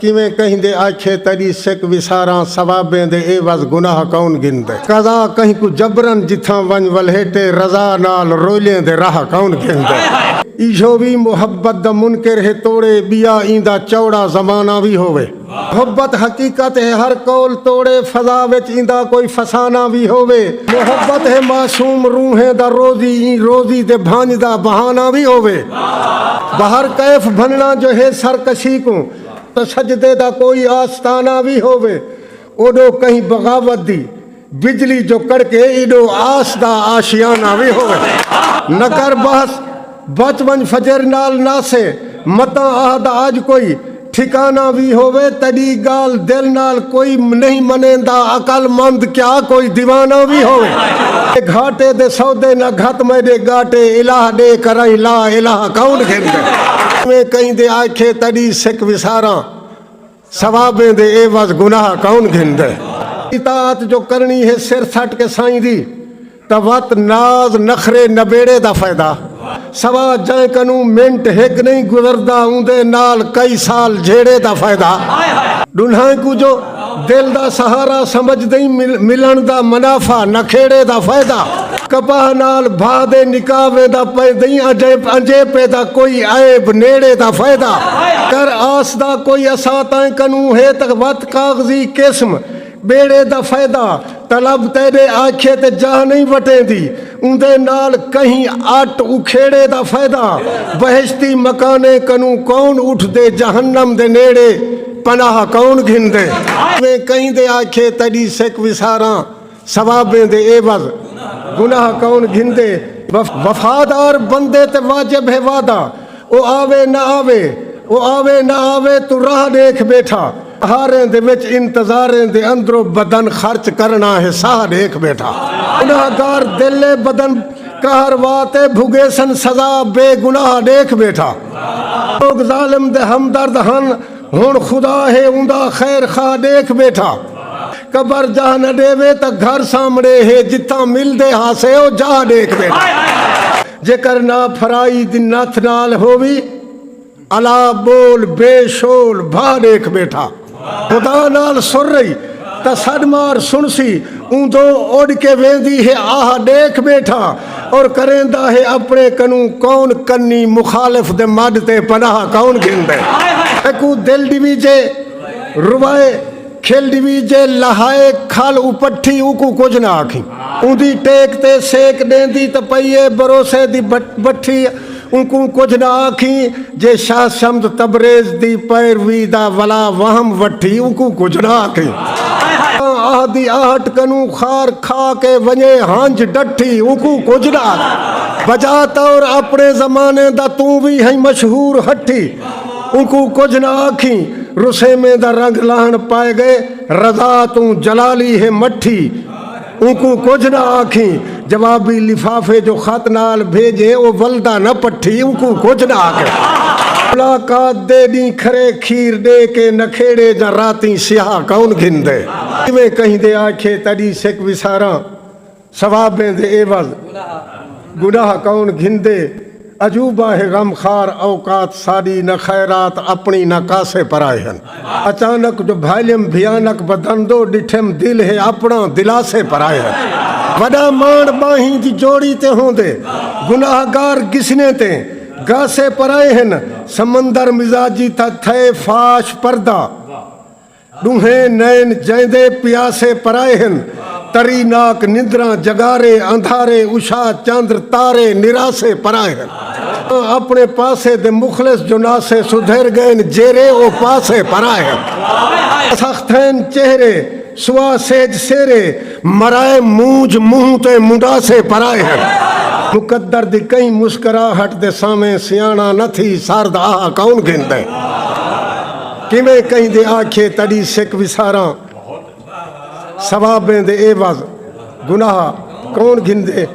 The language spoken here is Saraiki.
کیویں کہیں دے آکھیے تیڈی سک وساراں ثوابیں دے عیوض گناہ کون گھندے۔ قضا کہیں کوں جبرا جتھاں ونج ولھیٹے رضا نال رویلیں دے راہ کون گھندے۔ ایہو وی محبت دا منکر ہے توڑے بیا ایندا چوڑا زمانہ وی ہووے۔ محبت حقیقت ہے ہر قول توڑے فضا وچ ایندا کوئی فسانہ وی ہووے۔ محبت ہے معصوم روحیں دا روزی ایں روزی دے بھنج دا بہانہ وی ہووے۔ بہر کیف بھننا جو ہے سرکشی کوں تاں سجدے دا کوئی آستانہ وی ہووے اوڈو کہیں بغاوت دی بجلی جو کڑکے ایڈو آس دا آشیانہ وی ہووے نگر بحث بچ ونج فجر نال ناسے متاں اہد آج کوئی ٹھکانہ وی ہووے تیڈی گالھ دل نال کوئی نہیں منیندا عقل مند کیا کوئی دیوانہ وی ہووے تے گھاٹے دے سودے نہ گھت میڈے گاٹے الہ ڈے کرائیں لا الہ کون گھندے۔ ایویں کہیں دے آکھے تیڈی سک وساراں ثوابیں دے عوض گناہ کون گھندے۔ اطاعت جو کرنی ہے سر سٹ کے سائیں دی۔ تاں وت ناز نخرے نبیڑے دا فائدہ سوا جئیں کنوں منٹ ہک نئیں گزردا اوندے نال کئی سال جھیڑے دا فائدہ ڈنہائیں کوں جو دل دا سہارا سمجھدئیں ملن دا منافع نکھیڑے دا فائدہ کپاہ نال بھا دے نکاح ویندا پیندئیں انجیپے دا کوئی عیب نیڑے دا فائدہ کر آس دا کوئی اساتئیں کنوں ہے تاں وت کاغذی قسم ٻیڑے دا فیدہ طلب تیݙے آکھیے تے جاہ نئیں وٹیندی اوندے نال کہیں اٹ اکھیڑے دا فیدہ بہشتی مکانیں کنوں کون اٹھدے جہنم دے نیڑے پناہ کون گھندے۔ اویں کہیں دے آکھیے تیݙی سک وساراں ثوابیں دے عیوض گناہ کون گھندے۔ وفادار بندے تے واجب ہے وعدہ۔ او آوے نہ آوے او آوے نہ آوے توں راہ ݙیکھ ٻیٹھا ہاریں دے وچ انتظاریں دے اندرو بدن خرچ کرݨا ہے ساہ ݙیکھ ٻیٹھا گناہ گار دل ہے بدن قہر وا تے بھگیسن سزا بے گناہ ݙیکھ ٻیٹھا لوک ظالم دے ہمدرد ہن ہن خدا ہے اوندا خیر خواہ ݙیکھ ٻیٹھا قبر جاہ نہ ݙیوے تاں گھر سامݨے ہے جتھاں ملدے ہاسے او جاہ ݙیکھ ٻیٹھا جیکر نا پھرائی دی نتھ نال ہووی الا ٻول بے شول بھاہ ݙیکھ ٻیٹھا خدا نال سر رہی تاں سݙ مار سݨسی اوندوں اݙ کے ویندی ہے آہ ݙیکھ ٻیٹھا۔ اور کریندا ہے اپنے کنوں کون کنی مخالف دے مڈ تے پناہ کون گھندے اکو دل ڈویجے روائے کھل ڈویجے لہائے کھل اپٹھی اکو کچھ نہ آکھیں اوندی ٹیک تے سیک ڈیندی تے پئیے بروسے دی بٹھی اونکوں کجھ نہ آکھیں جے شاہ صمد تبریز دی پیروی دا ولا وہم وٹھی اونکوں کجھ نہ آکھیں جاں آہ دی آہٹ کنوں خار کھا کے ونجے ہنج ڈٹھی اونکوں کجھ نہ آکھیں بجا طور اپنے زمانے دا توں وی ہیں مشہور ہٹھی اونکوں کجھ نہ آکھیں رسیمیں دا رنگ لاہن پائے گئے رضا توں جلالی ہے مٹھی اونکوں کجھ نہ آکھیں۔ جوابی لفافے جو خط نال بھیجے او ولدا نہ پٹھی اونکوں کجھ نہ آکھیں۔ ملاقات دے ڈینہہ کھرے کھیر ڈے کے نکھیڑے جاں راتیں سیاہ کون گھندے۔ جیویں کہیں دے آکھے تڈی سک وساراں ثوابیں دے عوض گناہ کون گھندے۔ عجوبہ ہے غم خوار اوقات ساݙی نہ خیرات اپݨی نہ کاسے پرائے ہن اچانک جو بھائلیم بھیانک بدن دو ݙٹھیم دل ہے اپݨا دلاسے پرائے ہن وݙا ماݨ ٻانہیں دی جوڑی تے ہوندے گناہ گار گسنے تے گاسے پرائے ہن سمندر مزاجی تھا تھئے فاش پردہ ݙوہیں نین جیندے پیاسے پرائے ہن تری ناک نندراں جگارے اندھارے عشاء چندر تارے نراسے پرائے ہن تاں اپݨے پاسے دے مخلص جو ناسے سدھر ڳئن جیرے او پاسے پرائے ہن سخت تھئن چہرے سوا سہج سیرے مرائے مونجھ منہ تے منڈاسے پرائے ہن مقدر دی کہیں مسکراہٹ دے سانویں سیاݨا نہ تھی سرد آہ کون گھندے۔ کیویں کہیں دے آکھیے تڈی سک وساراں ثوابیں دے عوض گناہ کون گھندے۔